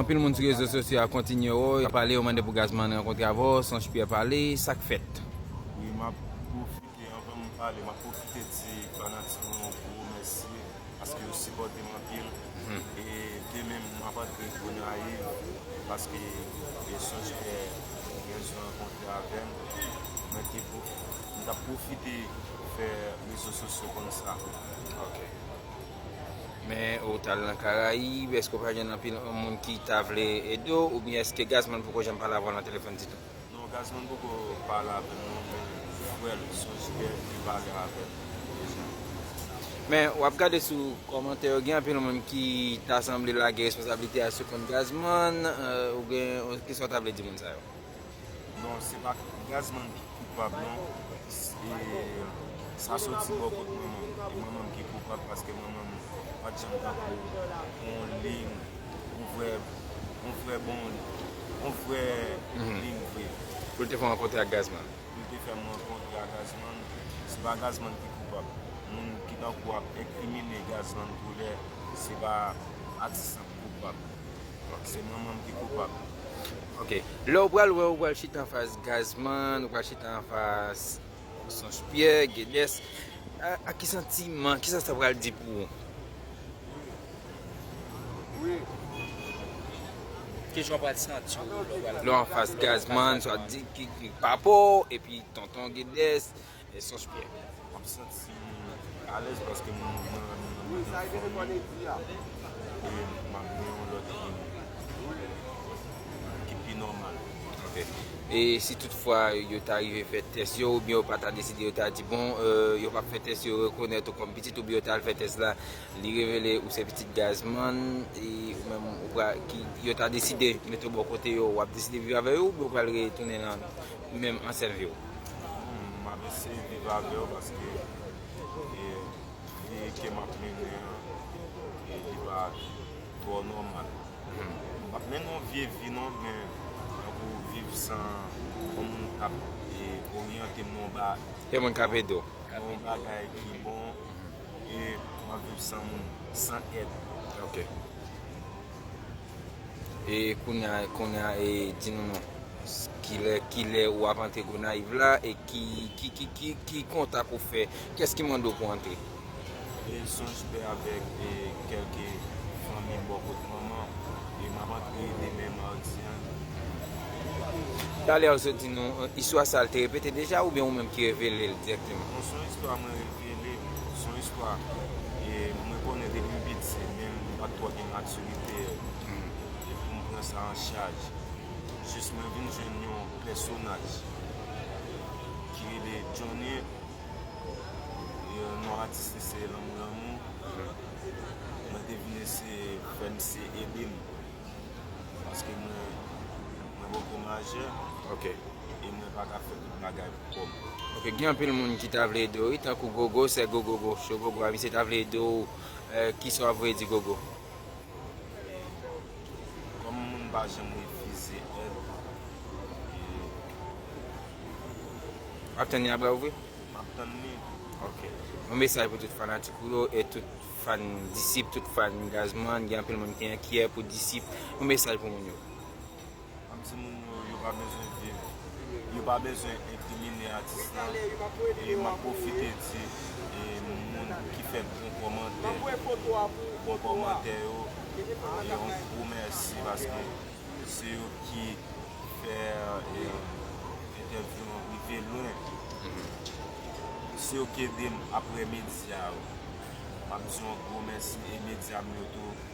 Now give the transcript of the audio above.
Anpil moun sou rezo sosyo a kontinye yo pale yo mande pou Gazman rankontre avè w Sonch Pierre pale sak fèt. Wi map pwofite anvan m pale map pwofite di fanatik mwen yo gwo mèsi paske yo sipòte m anpil e demen map antre Gonayiv paske Sonch Pierre gen bezwen rankontre avè m mwen te mtap pwofite fè rezo sosyo konn sa. Men ou t al nan Karayib, èske ou pa jwenn anpil moun ki ta vle ede w oubyen èske Gazman poko janm pale avè w nan telefòn ditou? Non, Gazman poko pale avè m non, men frè l, Sonjibè, li pale avè m deja. Men w ap gade sou kòmantè yo, gen anpil moun ki ta sanble lage responsablite a sou kont Gazman, ou gen, kisa w ta vle di moun sa yo? Non se pa gazman ki koupab non sa soti bò kot mwen menm e mwen menm ki koupab paske mwen menm pat janm tankou on ling on vrè on vrè bon on vrè ling vre. Poul te fè w rankontre ak gazman. Poul te fè m rankontre ak gazman se pa gazman ki koupab moun ki tankou ap enkrimine gazman koulè se pa atis lan ki koupab. Ok se manmanm ki koupab. Ok lèw pral wè ou pral chita anfas gazman ou pral chita anfas sons pyè gedes ak ki santiman kisa sa pral di pou ou. Kijan w pral santi w lè w pral anfas gazman swa di ki papaw epi tonton gedes. Esanj pyè map santi alèz paske m nan fanmi e map gen yon lòt vi ki pi nòmal. Ok e si tout fwa yo ta rive fè tès yo oubyen yo pa ta deside yo ta di bon yo pap fè tès yo rekonèt ou kòm pitit oubyen yo ta al fè tès la li revele ou se pitit Gazman e ou menm ou pral yo ta deside mete ou bò kote yo wap deside viv avè yo oubyen ou pral retounen nan menm an sèviw. Humm map eseye viv avèw paske vi ke map mennen an li pa trò nòmal map mennen yon vye vi non men tankou viv san yon moun kap oryantem nan yon bagay yon moun kap edew nan yon bagay ki bon e map viv san moun san èd. E kounya kounya e di nou non kilè kilè ou ap antre Gonaïves la e ki ki ki ki ki kontak ou fè kès ki mande w pou antre. E son jpè avèk e kèlke fanmi bò kot manman e map antre demen mardi an. Talè ou sot di nou istwa sa li te repete deja oubyen ou menm ki revele l dirèkteman? Non son istwa mwen revele, son istwa e mwen konnen depi m piti men m pat twò gen matirite. krite yo e pou m pran sa an chaj jis mwen vin jwenn yon pèsonaj ki rele Johnny e non atis li se Lanmou Lanmou mwen te vin eseye fè misye ede m paske mwen poko majè e mwen pa ka fè tout bagay pou kò m. Ok gen anpil moun ki ta vle ede w wi tankou Gogo sè Gogo Show Gogo a misye ta vle ede w. Kisa wap voye di gogo. Kòm moun pa janm refize èd e. Wap tann li a bra ouvri? Map tann li. Ok. Yon mesaj pou tout fanatik ou yo e tout fan Disip, tout fan Gazman, gen anpil moun ki enkyè pou Disip. Yon mesaj pou moun yo. An ti moun yo yo pa bezwen viv yo pa bezwen enkrimine atis la e map profite di e moun ki fè bon kòmantè bon kòmantè yo yon gwo mèsi paske se yo ki fè e entèvyou an rive lwen se yo ki edem aprè medya yo map di yon gwo mèsi e medya m yo tou.